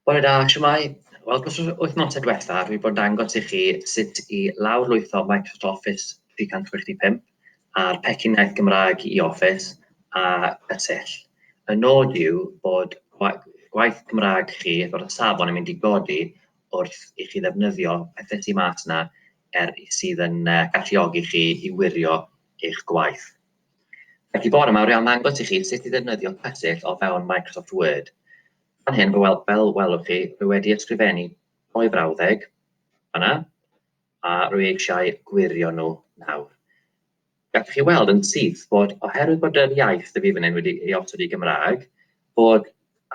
Bore da, shwmae? Wel, dros yr wythnosau diwetha, dwi wedi bod yn dangos i chi sut i lawrlwytho Microsoft Office 365 a'r pecyn iaith Gymraeg i Office a y tyll. Y nod yw bod gwaith Gymraeg chi fod y safon yn mynd i godi wrth i chi ddefnyddio pethau sy'n mas yna er sydd yn uh, galluogi chi i wirio eich gwaith. Felly bore yma, rwy'n ddangos i chi sut i ddefnyddio cysill o fewn Microsoft Word. Fan hyn, fel, fel welwch chi, rwy wedi ysgrifennu doi frawddeg fanna, a rwy eisiau gwirio nhw nawr. Gallwch chi weld yn syth bod, oherwydd bod yr iaith y fi fan hyn wedi ei osod i Gymraeg, bod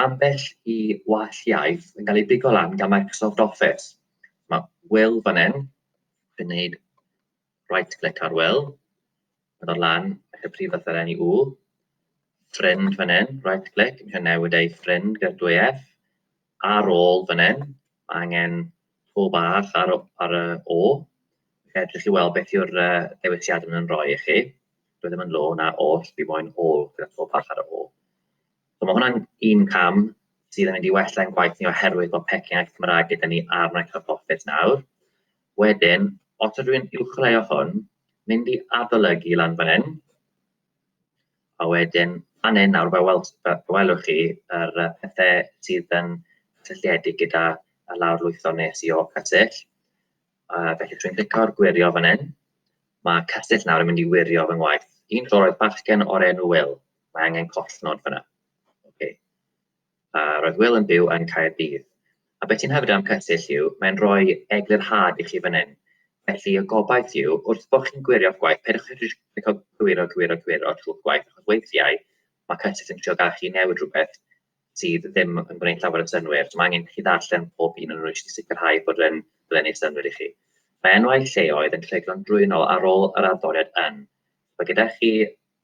ambell i wall iaith yn cael ei bigo lan gan Microsoft Office. Mae Will fan hyn yn gwneud right click ar Will, mynd o'r lan, eich prif fath ar enni U, ffrind fan hyn, right click, eisiau newid ei ffrind gyda'r dwy F, ar ôl fan hyn, mae angen to bach ar, ar y O, edrych chi weld beth yw'r uh, dewisiad yn rhoi i chi, dwi ddim yn lo na oll, fi moyn ôl gyda to bach ar y O. So mae hwnna'n un cam sydd yn mynd i wella'n gwaith ni oherwydd bod pecyn ac Cymraeg gyda ni ar Microsoft Office nawr. Wedyn, os ydw i'n uwcholeuo hwn, mynd i adolygu lan fan hyn, a wedyn fan hyn nawr, fe weld, welwch chi yr uh, pethau sydd yn cysylltiedig gyda y lawr lwytho nes i o cysyll. Uh, felly, dwi'n clicio ar gwirio fan hyn. Mae cysyll nawr yn mynd i wirio fy ngwaith. Un tro roedd bachgen o'r enw Will. Mae angen collnod fyna. Okay. A, roedd Wil yn byw yn Caerdydd. A be ti'n hyfryd am Cysill yw, mae'n rhoi eglurhad i chi fan hyn. Felly, y gobaith yw, wrth bod chi'n gwirio'ch gwaith, peidiwch â jyst clicio cywiro, cywiro, cywiro trwy'ch gwaith, achos weithiau mae Cysill yn trio gadael chi newid rhywbeth sydd ddim yn gwneud llawer o synwyr. So, mae angen chi ddarllen pob un yn rwy'n i sicrhau bod yn blennu synwyr i chi. Mae enwau lleoedd yn treiglo'n drwynol ar ôl yr arddoriad yn. Mae gyda chi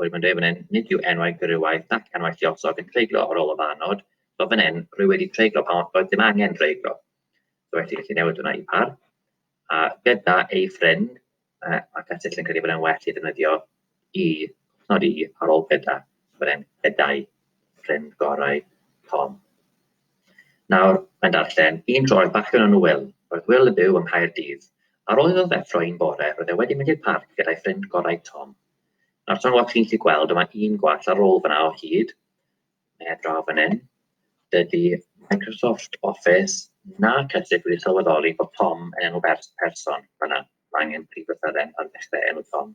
Rwyf yn dweud fan hyn, nid yw enwau gwrywaith nac enwau lluosog yn treiglo ar ôl y fan nod, so fan hyn, rwy wedi treiglo pan oedd dim angen dreiglo. So felly, gallu newid hwnna i par. A gyda ei ffrind, uh, mae Catill yn credu bod e'n well i ddefnyddio i, nod i, ar ôl gyda, bod e'n gyda'i ffrind gorau Tom. Nawr, mae'n darllen, un tro oedd bachgen o'n Will, roedd Will yn byw yng Nghaerdydd. Ar ôl iddo ddeffro un bore, roedd e wedi mynd i'r parc gyda'i ffrind gorau Tom. Nawr tan weld chi'n gallu gweld, yma un gwall ar ôl fyna o hyd, neu draw fan hyn, dydy Microsoft Office na Cysig wedi sylweddoli bod Tom yn enw bers person fyna. Mae angen prif lythyren ar ddechrau enw Tom.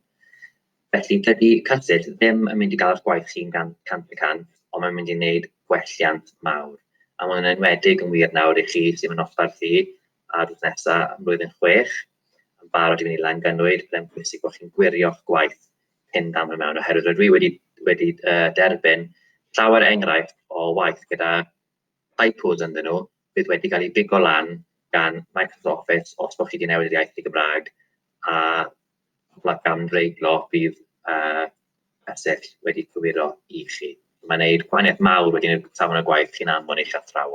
Felly dydy Cysig ddim yn mynd i gael eich gwaith chi'n gan cant y cant, ond mae'n mynd i wneud gwelliant mawr. A mae'n enwedig yn wir nawr i chi sy'n mynd osbarth i ar drws nesaf yn blwyddyn chwech yn barod i fynd i Langanwyd, byddai'n pwysig bod chi'n gwirio'ch gwaith cyn dam i mewn, oherwydd rydw i wedi, wedi uh, derbyn llawer enghraifft o waith gyda typos ynddyn nhw, bydd wedi cael ei bigo lan gan Microsoft Office os bod chi wedi newid yr iaith i Gymraeg, a pobl gan reiglo bydd uh, wedi cywiro i chi. Mae'n gwneud gwahaniaeth mawr wedyn i'r safon y gwaith chi'n anfon eich athrawon.